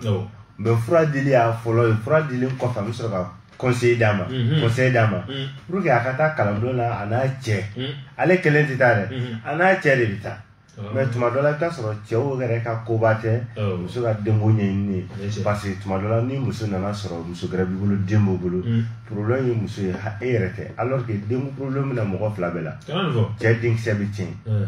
mais fura dili y'a fɔlɔ ye fura dilen kɔfɛ an bɛ sɔrɔ ka conseil d'a ma mhm. conseil d'a ma mhm. pour que a ka taa kalanbulon na a n'a cɛ mhm. ale kelen tɛ taa dɛ a n'a cɛ de bɛ taa oh. mais tuma dɔ la i bɛ taa sɔrɔ cɛw yɛrɛ ka koba tɛ oh. muso ka denko ɲɛɲini ye parce que tuma dɔ la ni muso nan'a sɔrɔ muso gɛrɛ b'i bolo den b'o bolo problème ye muso ye e yɛrɛ tɛ alors que denko problème bɛ na mɔgɔ fila bɛɛ la cɛ denkisɛ bɛ tiɲɛ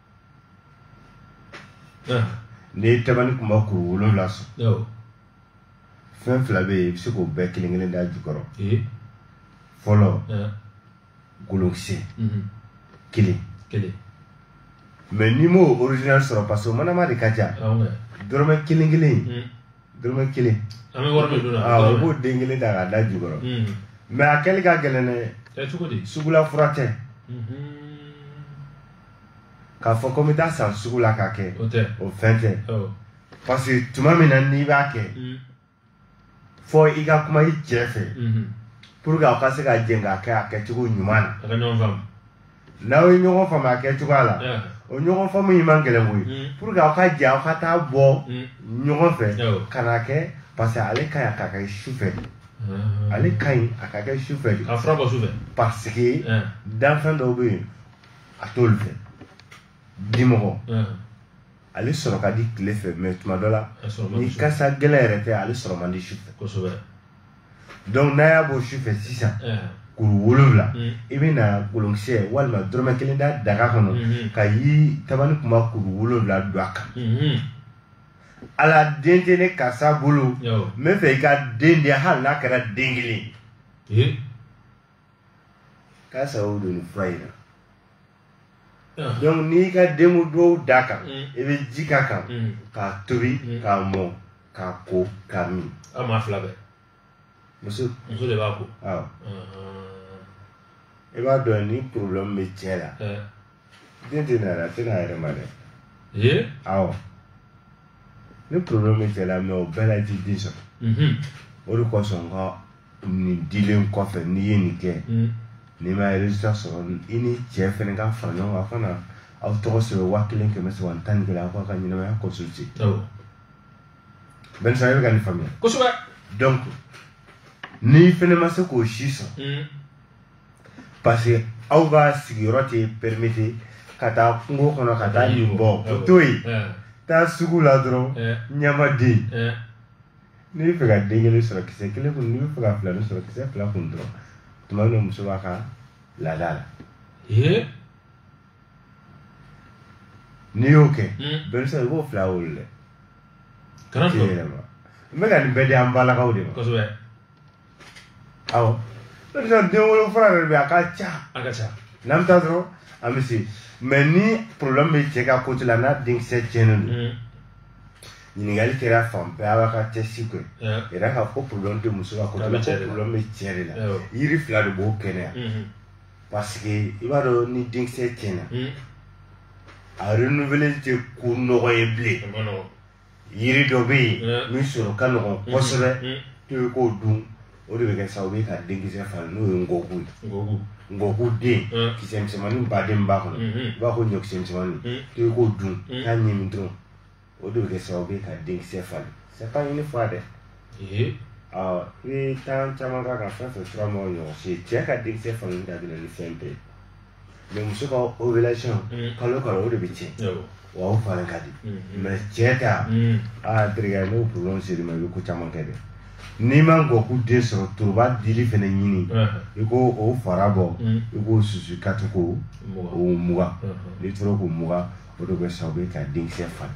n'i ye tabani kunba kuru wolonwula sɔrɔ fɛn fila bɛ yen i bɛ se k'o bɛɛ kelen kelen d'a jukɔrɔ fɔlɔ kolonkisɛ kelen kelen mais n'i m'o original sɔrɔ parce que o manama de ka ca dɔrɔmɛ kelen kelen dɔrɔmɛ kelen an bɛ wari min don na o b'o den kelen ta k'a d'a jukɔrɔ mais a kɛli ka gɛlɛn dɛ sugula fura tɛ k'a fɔ ko n bɛ taa san sugu la k'a kɛ o fɛn tɛ parce que tuma min na n'i b'a kɛ mm. fɔ i ka kuma i cɛ fɛ mm-hmm. pour que aw ka se ka jɛn k'a kɛ a kɛcogo ɲuman na n'aw ye ɲɔgɔn faamu a kɛcogoya la o ɲɔgɔn faamu in man gɛlɛn koyi mm. pour que aw ka jɛn aw ka taa bɔ ɲɔgɔn fɛ ka n'a kɛ parce que ale ka ɲi a ka kɛ su fɛ de ah. ale ka ɲi a ka kɛ su fɛ de parce que danfɛn dɔw bɛ yen a t'olu fɛ dimɔgɔ ale sɔrɔ ka di tile fɛ mais tuma dɔ la ni kasa gɛlɛn yɛrɛ tɛ ale sɔrɔ man di su fɛ donc n'a y'a bɔ su fɛ sisan kuru wolonwula mm. i bɛ na kolonkisɛ walima dɔrɔmɛ kelen da daga kɔnɔ mm-hmm. ka yi tabani kunba kuru wolonwula don a kan mm-hmm. ala den tɛ ne karisa bolo n b'a fɛ i ka den di hali n'a kɛra den kelen ye k'a sababu don nin fura in na donc n'i ka denko duwawu d'a kan i bɛ ji k'a kan k'a tobi k'a mɔ k'a ko k'a min aw maa fila bɛɛ muso muso de b'a ko awɔ i b'a dɔn ni problème bɛ cɛ la den tɛ na yɛrɛ a tɛ n'a yɛrɛ ma dɛ ee awɔ ni problème bɛ cɛ la mais o bɛɛ la i tɛ den sɔrɔ mhm, o de kosɔn n ka nin dilen kɔfɛ n'i ye nin kɛ mhm. n'i ma résultat sɔrɔ i ni cɛ fɛnɛ ka fara ɲɔgɔn kan aw ka na aw tɔgɔ sɛbɛn waa kelen kɛmɛ saba ni tan ni kelen aw k'aw ka ɲɛnamaya consulter awɔ Benson i bɛ ka nin faamuya kosɛbɛ donc n'i fɛnɛ ma se k'o si sɔrɔ mhm, parce que aw ka sigiyɔrɔ tɛ permettre ka taa kungo kɔnɔ ka taa nin bɔ o to yen taa sugu la dɔrɔn ɲamaden n'i bɛ fɛ ka den kelen sɔrɔ kisɛ kelen kunu n'i bɛ fɛ ka filanin sɔrɔ kisɛ fila kunu dɔrɔn tuma min muso b'a ka laada la n'i y'o kɛ Benson i b'o fila wolo dɛ kana yɛlɛma n bɛ ka nin bɛɛ di an balakaw de ma kosɛbɛ awɔ ne bɛ den wolo fura yɛrɛ bɛ a ka ca a ka ca n'an bɛ taa dɔrɔn an bɛ se mais ni problème bɛ cɛ ka côté la n'a denkisɛ tiɲɛnen don ɲininkali kɛra fan bɛɛ aw ka tɛsi k'o yira k'a fɔ ko problème tɛ muso ka côté la ko problème bɛ cɛ de la yiri fila de b'o kɛnɛya parce que i b'a dɔn ni denkisɛ tiɲɛna a renouveler tɛ ko nɔgɔ ye bilen yiri dɔ bɛ yen mm. min sɔrɔ ka nɔgɔn mm-hmm. kosɛbɛ mm-hmm. to bɛ k'o dun o de bɛ kɛ sababu ye ka denkisɛ falen n'o ye ngɔku ye ngɔku den mm. kisɛ misɛnmanin b'a denba kɔnɔ mm-hmm. i b'a fɔ ɲɔkisɛ misɛnmanin mm. to bɛ k'o dun k'a ɲimi dɔrɔn o de bɛ kɛ sababu ye ka denkisɛ falen c'est pas une fois dɛ awɔ i bɛ temps caman k'a kan fɛn fɛn fura ma ɲɔgɔn si cɛ ka denkisɛ falen da bɛ na ni fɛn bɛɛ ye mɛ muso ka ovulation kalo kalo o de bɛ tiɲɛ wa o falen ka di mais cɛ ta aa terikɛ n'o problème sera i ma i bɛ ko caman kɛ dɛ n'i ma ngɔku den sɔrɔ toroba dili fɛnɛ ɲini i k'o fara bɔ i k'o susu ka to k'o mugan n'i tora k'o mugan o de bɛ sababu ye ka denkisɛ falen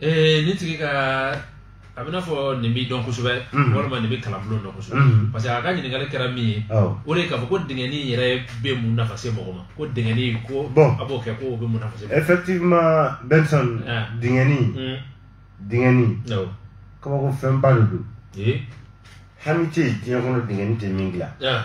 ee nin tigi ka a b'i n'a fɔ nin b'i dɔn kosɛbɛ Mhm. walima nin bɛ kalanbulon dɔn kosɛbɛ Mhm. parce que a ka ɲininkali kɛra min ye Awɔ. o de ye k'a fɔ ko dingɛni yɛrɛ bɛ mun nafa se mɔgɔ ma ko dingɛni ko Bon. a b'o kɛ ko o bɛ mun nafa se mɔgɔ ma Effectivement, Benson, Ah. dingɛni, Mm. dingɛni, Awɔ. kabako fɛnba de don. Ee. Hami tɛ yen diɲɛ kɔnɔ dingɛni tɛ min dilan. Ah.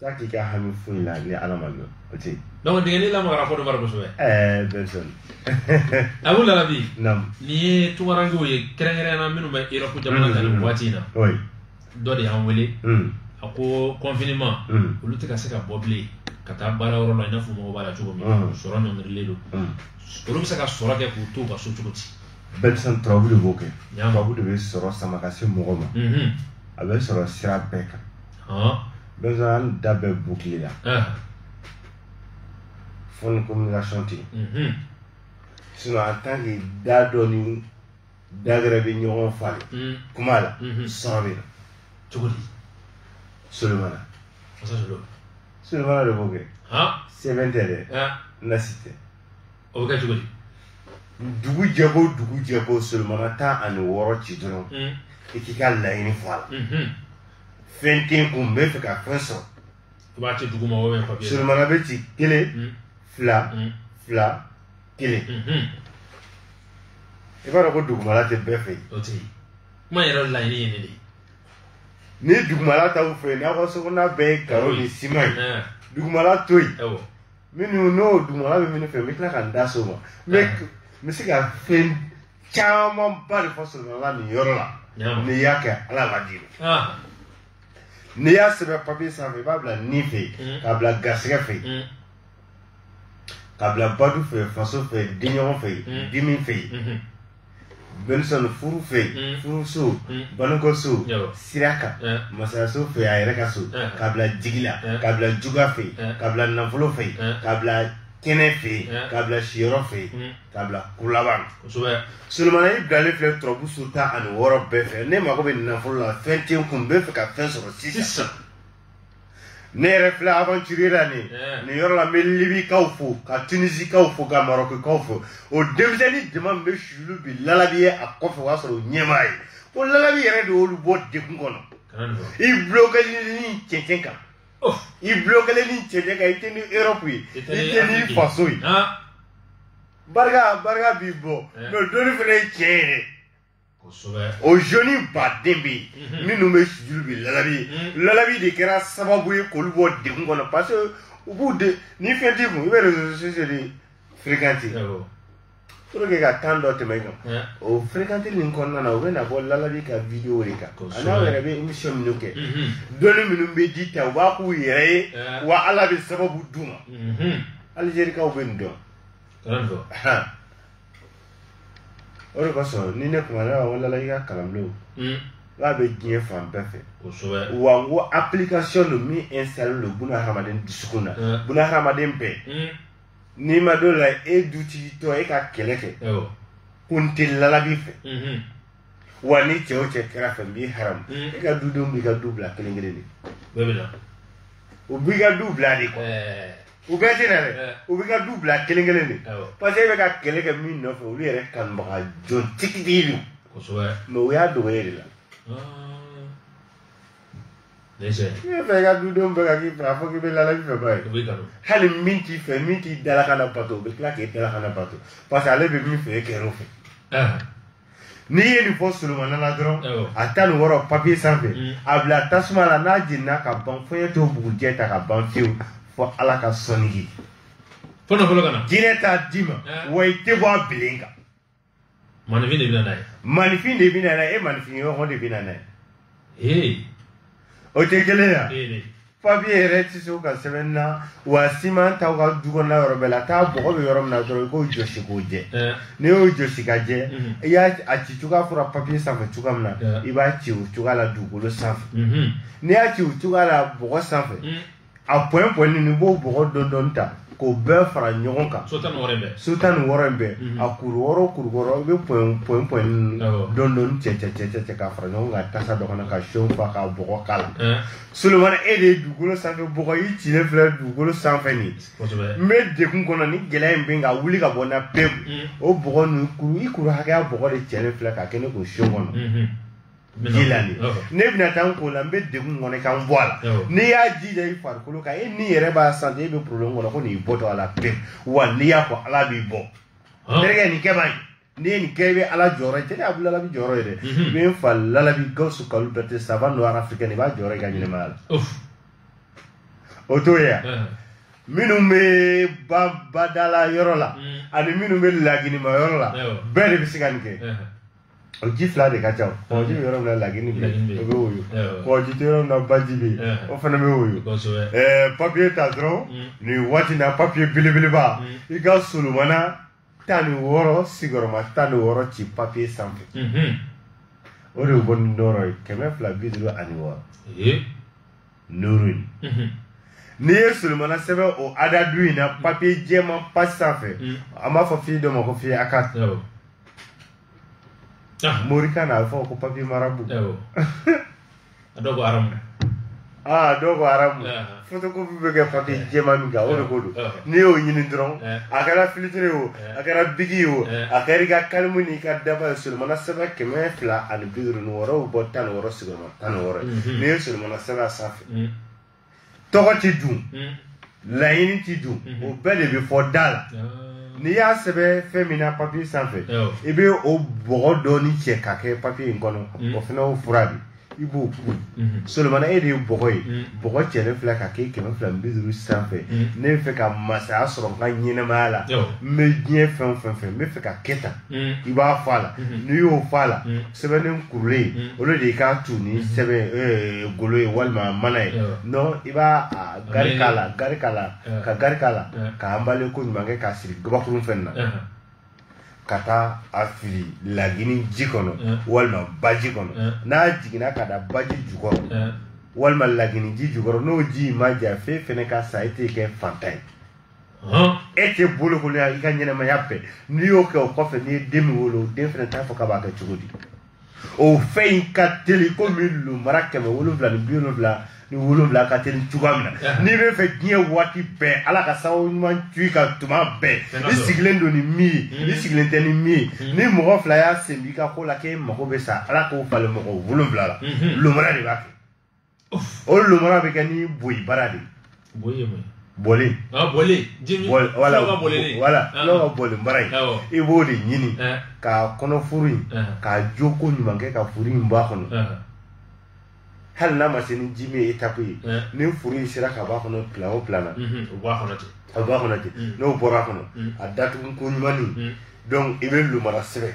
Taa k'i ka hami foyi la ni ala ma dɔn o tɛ yen donc dingɛni lamagara fɔ dɔ bara kosɛbɛ ɛɛ bɛnsɔn abu lalabi nam nin ye tungarankew ye kɛrɛnkɛrɛnna minnu bɛ erɔpu jamana kan nin waati in na oui dɔ de y'an wele mm. a ko confinement Mm. olu tɛ ka se ka bɔ bilen ka taa baara yɔrɔ la i n'a fɔ mɔgɔ b'a la cogo min Mm. sɔrɔ ɲɔngirilen don Mm. olu bɛ se ka sɔrɔ kɛ k'u to u ka so cogo di bɛnsɔn turabu de b'o kɛ Nam. turabu de bɛ sɔrɔ sama ka se mɔgɔ ma Mhm. a bɛ sɔrɔ sira bɛɛ kan dɔ sɔrɔ an da bɛɛ boucler la fo ni communication tɛ yen sinon en tant que da dɔ ni da gɛrɛ bɛ ɲɔgɔn falen kuma la sɔrɔ bɛ na cogo di solomana solomana de b'o kɛ sɛbɛn tɛ dɛ nasi tɛ o bɛ kɛ cogo di dugu jɛko dugu jɛko solomana tan ani wɔɔrɔ ci dɔrɔn i k'i ka laɲini fɔ a la fɛn tɛ n kun n bɛ fɛ ka fɛn sɔrɔ i b'a ci duguma ou bien papiye solomana bɛ ci kelen hmm. fila hmm. fila kelen hmm, i b'a dɔn ko dugumala tɛ bɛɛ fɛ yen o tɛ yen kuma yɛrɛ laɲini ye nin de ye ni dugumala t'aw fɛ yen n'aw ka sokɔnɔna bɛɛ ye karo ni siman ye eh. dugumala to yen minnu n'o dugumala bɛ minnu fɛ n bɛ tila ka n da so ma n bɛ n bɛ se ka fɛn camanba de fɔ solomana nin yɔrɔ la n'i y'a kɛ ala b'a di n'i y'a sɛbɛn papiye sanfɛ i b'a bila ni fɛ yen k'a bila garisɛgɛ fɛ yen k'a bila badu fɛ yen faso fɛ yen denɲɔgɔn fɛ yen dimi fɛ yen benisɔn furu fɛ yen furuso banukɔso sira kan masayaso fɛ yen a yɛrɛ ka so k'a bila jigi la k'a bila jugu fɛ yen k'a bila nafolo fɛ yen k'a bila kɛnɛ fɛ yen k'a bila siyɔrɔ fɛ yen k'a bila kuru laban kosɛbɛ solomana i bilalen filɛ turabu so tan ani wɔɔrɔ bɛɛ fɛ ne mago bɛ nafolo la fɛn tɛ n kun n bɛ fɛ ka fɛn sɔrɔ sisan ne yɛrɛ filɛ aventure la nin nin yɔrɔ la n bɛ libikaw fo ka tunisikaw fo ka marɔkikaw fo o denmisɛnnin jama min bɛ suulu bi lalabi ye a kɔfɛ o y'a sɔrɔ o ɲɛ m'a ye ko lalabi yɛrɛ de y'olu bɔ degun kɔnɔ i bulokelen nin cɛncɛn kan Oh. i bulokelen nin cɛncɛn kan i tɛ ni europe ye i tɛ ni faso ye barika barika b'i bɔ eh. mais doni fana ye cɛ yɛrɛ o joni baden bɛ yen mhm. minnu bɛ sujudu bi lalabi mhm. lalabi de kɛra sababu ye k'olu bɔ degun kɔnɔ parce que u b'u de ni fɛn t'i kun i bɛ réseaux sociaux de fréquenter pour que ka temps dɔ tɛmɛ kan o fréquenteli nin kɔnɔna na u bɛ na bɔ lalabi ka video de kan a n'aw yɛrɛ bɛ émission minnu kɛ dɔnni minnu bɛ di ta u b'a k'u yɛrɛ ye wa ala bɛ sababu d'u ma alizerikaw bɛ nin dɔn o de kosɔn ni ne kumana wa lalabi ka kalanbulon k'a bɛ diɲɛ fan bɛɛ fɛ wa n ko application don min installé don buna hadamaden dusukun na buna hadamaden bɛɛ n'i ma dɔ la e dutigitɔ e ka kɛlɛ kɛ ko n tɛ lalabi fɛ mhm. wa ni cɛ o cɛ kɛra fɛ n b'i haramu mhm. e ka dudenw b'i ka du bila kelen kelen de u b'i ka du bila de kɔnɔ u bɛɛ tɛ na dɛ u b'i ka du bila kelen kelen de parce que e bɛ ka kɛlɛ kɛ min nɔfɛ olu yɛrɛ kanubaga jɔn tigitigi don mais u y'a dogo e de la ah. Ne sɛ. Ne b'a fɛ i ka dudenw bɛɛ ka k'i fɛ a fɔ k'i bɛ lalabi fɛ ba ye. O b'i kanu. Hali min t'i fɛ min t'i dalakan labato o bɛ tila k'e dalakan labato parce que ale bɛ min fɛ e kɛr'o fɛ. Ah. n'i ye nin fɔ solomana la dɔrɔn a tan ni wɔɔrɔ papiye sanfɛ mm. a bila tasuma la n'a jenina ka ban fo ye to bugujɛ ta ka ban fewu fo ala ka sɔnni ye jinɛ t'a d'i ma wa i tɛ bɔ a bilen kan maninfin de bɛ na n'a ye maninfin de bɛ na n'a ye e maninfin ɲɔgɔn de bɛ na n'a ye ee o tɛ gɛlɛya ee papiye yɛrɛ tɛ se ka sɛbɛn na wa siman t'aw ka du kɔnɔna yɔrɔ bɛɛ la taa bɔgɔ bɛ yɔrɔ min na dɔrɔn i k'o jɔsi k'o jɛ ɛɛ n'i y'o jɔsi ka jɛ Mhm. i y'a a ci cogoya fɔra papiye sanfɛ cogoya min na Yeah. i b'a ci o cogoya la dugukolo sanfɛ mhm n'i y'a ci o cogoya la bɔgɔ sanfɛ Mm. a pɔn pɔn ni b'o bɔgɔ dɔɔni dɔɔni ta k'o bɛɛ fara ɲɔgɔn kan so tan ni wɔɔrɔ in bɛɛ mhm. a kuru wɔɔrɔ kuru wɔɔrɔ i bɛ pɔn pɔn pɔn dɔɔni dɔɔni cɛ cɛ cɛ cɛ cɛ k'a fara ɲɔgɔn kan tasa dɔ kɔnɔ ka seau fa ka bɔgɔ k'a la solomana e de ye dugukolo sanfɛ bɔgɔ i cilen filɛ dugukolo sanfɛ ni n bɛ degun kɔnɔ ni gɛlɛya in bɛ n kan wuli ka bɔ n na pewu mhm. o bɔgɔ ninnu kuru i kuru hakɛya bɔgɔ de cɛlen filɛ ka kɛ ne ko seau kɔnɔ. Mhm. ji la de ne bɛna taa n ko la n bɛ degun kɔnɔ ka n bɔ a la n'i y'a ji da i farikolo kan e n'i yɛrɛ b'a santi e bɛ problème kɔnɔ ko ne bɔtɔ a la pewu wa n'i y'a fɔ ala b'i bɔ terikɛ nin kɛ bani n'i ye nin kɛ i bɛ ala jɔyɔrɔ ye terikɛ a bɛ lalabi jɔyɔrɔ ye dɛ i bɛ n fa lalabi gawusu kalilu bɛrɛtɛ savant noir africain i b'a jɔyɔrɔ ye i ka ɲɛnɛmaya la o t'o ye yan minnu bɛ badala yɔrɔ la ani minnu bɛ laginima yɔrɔ la bɛɛ de bɛ se ka nin kɛ o ji fila de ka ca kɔgɔji bɛ yɔrɔ min na lagini bɛ o bɛ woyo kɔgɔji tɛ yɔrɔ min na baji bɛ yen o fana bɛ woyo ɛɛ papiye ta dɔrɔn mm. nin waati in na papiye belebeleba mm. i ka solomana tan ni wɔɔrɔ sigiyɔrɔma tan ni wɔɔrɔ ci papiye sanfɛ mm-hmm. o de ye bɔ ni nɔrɔ ye kɛmɛ fila bi duuru ani wɔɔrɔ nuru in mm-hmm. n'i ye solomana sɛbɛn o adadu in na papiye jɛman pasi sanfɛ mm. an b'a fɔ feuille dɔ ma ko feuille A4 ah morikan na a bɛ fɔ ko papiye marabu awɔ a dɔw ko aramu aa dɔw ko aramu Ah. fotokopi bɛ kɛ papiye jɛman min kan o de ko don Ah. n'i y'o ɲini dɔrɔn Eh. a kɛra filitiri ye o Eh. a kɛra biki ye o Eh. a kɛra i ka kalimu n'i ka daba ye solomana sɛbɛn kɛmɛ fila ani bi duuru ni wɔɔrɔ o bɔ tan ni wɔɔrɔ sigiyɔrɔma tan ni wɔɔrɔ ye Mhm. n'i ye solomana sɛbɛn a sanfɛ Mm. tɔgɔ tɛ don hmm. laɲini tɛ don hmm. o bɛɛ de bɛ fɔ da la n'i y'a sɛbɛn fɛn min na papiye sanfɛ i bɛ o bɔgɔ dɔɔni cɛ ka kɛ papiye in kɔnɔ hmm. o fana o fura de i b'o kun solomana e de ye bɔgɔ ye bɔgɔ cɛlen filɛ ka kɛ kɛmɛ fila ni bi duuru sanfɛ ne b'a fɛ ka masaya sɔrɔ n ka ɲɛnɛmaya la n bɛ diɲɛ fɛn o fɛn fɛ n b'a fɛ ka kɛ tan i b'a fɔ a la n'i y'o fɔ a la sɛbɛnnen kurulen mm. olu de k'a tu ni mm-hmm. sɛbɛn eh, golo ye walima mana ye non i b'a gari k'a la k'a anbale ko ɲuman kɛ k'a siri gabakurun fɛn na ka taa a fili lagini ji kɔnɔ walima baji kɔnɔ n'a jiginna ka da baji jukɔrɔ walima lagini ji jukɔrɔ n'o ji in ma ja f'e fɛnɛ ka sa i tɛ kɛ fantan ye e tɛ bolokolonya i ka ɲɛnɛmaya bɛɛ n'i y'o kɛ o kɔfɛ n'i ye den min wolo o den fana t'a fɔ k'a b'a kɛ cogo di o fɛn in ka teli komi lomara kɛmɛ wolonwula ni bi wolonwula ni wolonwula ka teli cogoya min na n'i bɛ fɛ diɲɛ waati bɛɛ ala ka sababu ɲuman tu i kan tuma bɛɛ i sigilen don ni min ye mm. i sigilen tɛ ni min ye mm. ni mɔgɔ fila y'a sen b'i ka ko la k'e mago bɛ sa ala k'o falen mɔgɔ wolonwula la mm-hmm. lomara de b'a kɛ o lomara bɛ kɛ ni boyi bara de boyi ye mun bolen bolen jimi voilà voilà n'o ka bolen bara ye i b'o de ɲini ka kɔnɔ furu in ka jo ko ɲuman kɛ ka furu in b'a kɔnɔ hali n'a ma se ni jimi ye etape ye ni furu in sera ka b'a kɔnɔ plan o plan na o b'a kɔnɔ ten a b'a kɔnɔ ten n'o bɔra kɔnɔ a datugu ko ɲuman donc i bɛ lomara sɛbɛn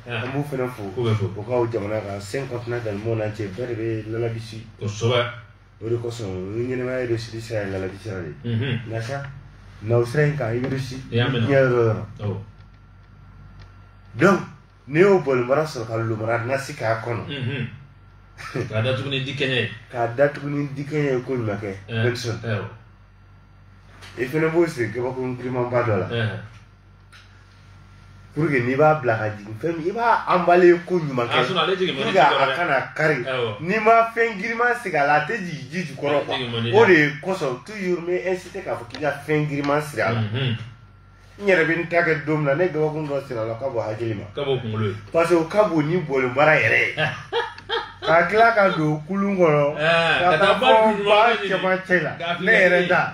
an b'u fana fo ko bɛ fo u k'aw jamana kan sen kɔnɔna dans le monde entier bɛɛ de bɛ lalabisi kosɛbɛ o de kosɔn ni ɲɛnɛmaya bɛ siri sira ye lalabisi sira de ye nka sa na o sira in kan i bɛ si diɲɛ yɔrɔ yɔrɔ donc n'i y'o bolen bara sɔrɔ ka lomara nasi k'a kɔnɔ k'a datugu ni dikɛɲɛ ye k'a datugu ni dikɛɲɛ ye ko ɲuman kɛ bɛɛ sɔn i fana b'o sigi kabakuru girimanba dɔ la pour que n'i b'a bila ka jigin fɛn min i b'a anbale ko ɲuman kɛ pour que a kana kari n'i ma fɛn giriman sigi a la a tɛ jigin ji jukɔrɔ quoi o de kosɔn toujours n bɛ inciter k'a fɔ k'i ka fɛn giriman siri a la n yɛrɛ bɛ n ta kɛ don min na nɛgɛkun dɔ siri a la ka bɔ hakili ma parce que o ka bon ni bolen bara yɛrɛ ye ka tila ka don kulun kɔnɔ ka taa fo ba cɛmancɛ la ne yɛrɛ ta.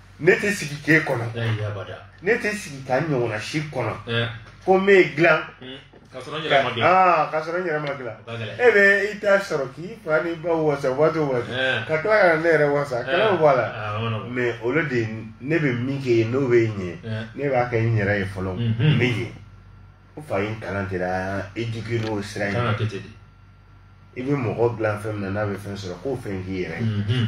ne tɛ sigi k'e kɔnɔ ne tɛ sigi ka n ɲɔgɔnna si kɔnɔ ko n bɛ dilan ka sɔrɔ n yɛrɛ ma dilan aa ka sɔrɔ n yɛrɛ ma dilan e bɛ i ta sɔrɔ k'i fa ni ba wasa waati o waati ka tila ka ne yɛrɛ wasa kɛlɛ bɛ bɔ a la mais olu de ne bɛ min kɛ yen n'o bɛ ɲɛ ne b'a kɛ n yɛrɛ ye fɔlɔ n bɛ ɲɛ n fa ye n kalan tɛ la eduke n'o sira in i bɛ mɔgɔ dilan fɛn min na n'a bɛ fɛn sɔrɔ k'o fɛn k'i yɛrɛ ye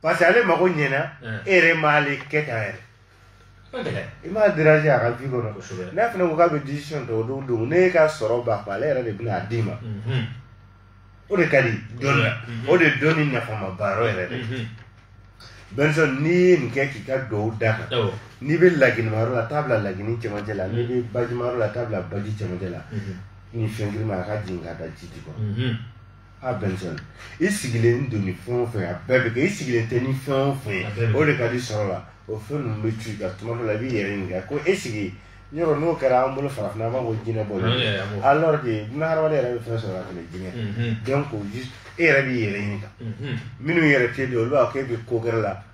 parce que ale mago ɲɛna e yɛrɛ m'ale kɛ tan yɛrɛ i m'a déranger a ka vie kɔnɔ n'a fana ko k'a bɛ décision ta o don don ne ka sɔrɔ ba ale yɛrɛ de bɛna a d'i ma o de ka di dɔnni na o de dɔnni nafama baarayɔrɔ yɛrɛ de Benson n'i ye nin kɛ k'i ka duwawu d'a kan n'i bɛ laginimayɔrɔ la t'a bila lagini cɛmancɛ la n'i bɛ bajimayɔrɔ la t'a bila baji cɛmancɛ la ni fɛn girinma a ka jigin ka da ji di kɔnɔ a Benson i sigilen don ni fɛn o fɛn a bɛɛ bɛ kɛ i sigilen tɛ ni fɛn o fɛn ye o de ka di sɔrɔ la o fɛn ninnu bɛ ci ka tuma dɔ la i b'i yɛrɛ ɲininka ko e sigi yɔrɔ n'o kɛra an bolo farafinna an b'a fɔ jinɛ bɔ alors que buna hadamaden yɛrɛ bɛ fɛn sɔrɔ ka tɛmɛ jinɛ mhm. donc e yɛrɛ b'i yɛrɛ ɲininka mhm. minnu yɛrɛ tɛ don olu b'a fɔ k'e bɛ ko gɛrɛ la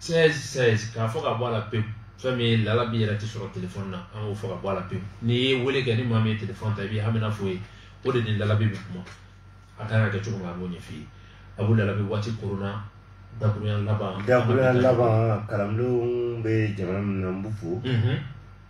16 16 k'a fɔ ka bɔ a la pewu fɛn min ye Lalabi yɛrɛ tɛ sɔrɔ telefɔni na an k'o fɔ ka bɔ a la pewu n'i ye wele kɛ ni maa min ye telefɔni ta i b'i hamina f'o ye o de ni Lalabi bɛ kuma a kan ka kɛ cogo min a b'o ɲɛf'i ye Abu Lalabi waati koronna dakurunya laban dakurunya laban kalandenw bɛ jamana min na n b'u fo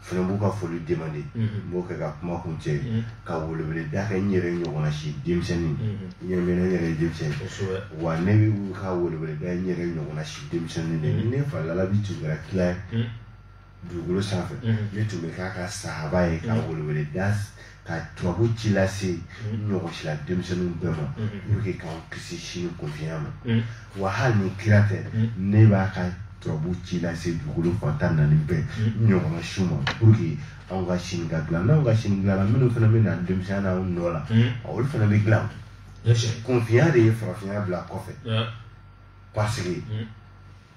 fana b'u ka foli demander n b'o kɛ ka kuma kuncɛ ka welewele da kɛ n yɛrɛ ɲɔgɔnna si denmisɛnnin n yɛrɛ bɛ ne yɛrɛ ye denmisɛnnin wa ne bɛ ka welewele da n yɛrɛ ɲɔgɔnna si denmisɛnnin de ni ne fa Lalabi tun kɛra kira ye dugukolo sanfɛ ne tun bɛ k'a ka sahaba ye ka welewele da ka turabu ci lase mm-hmm. ɲɔgɔn sila denmisɛnninw bɛɛ ma mm-hmm. pour que k'an kisi sini kunfinya ma mm-hmm. wa hali ni kira tɛ ne b'a ka turabu ci lase dugukolo fan tan ni naani bɛɛ ɲɔgɔnna si ma pour que anw ka sini ka dilan n'anw ka sini dilanna minnu fana bɛ na denmisɛnya n'anw nɔ la olu fana bɛ dilan kunfinya de ye farafinya bila kɔfɛ parce que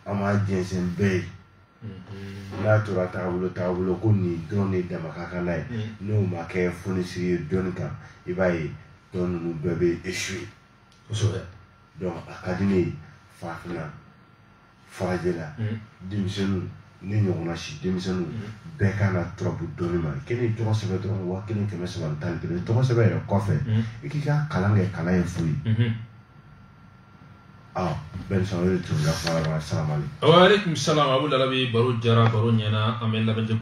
an m'a jɛnsɛn bɛɛ ye n'a tora taabolo taabolo ko nin dɔrɔn de dama ka kan n'a ye n'o ma kɛ fonisiri ye dɔnni kan i b'a ye dɔn ninnu bɛɛ bɛ échouer kosɛbɛ donc a ka di ne ye farafinna farajɛla denmisɛnninw ne ɲɔgɔnna si denmisɛnninw bɛɛ kan ka turabu dɔnni ma k'e ni tɔgɔ sɛbɛn dɔrɔn waa kelen kɛmɛ saba ni tan ni kelen tɔgɔ sɛbɛn yɛrɛ kɔfɛ i k'i ka kalan kɛ kalan ye fu ye ah Benson o de tun ka fara ɲɔgɔn kan salamalek. Wa aleykum salam Abu Lalabi baro diyara baro ɲɛna an bɛ lamɛnjɛkulu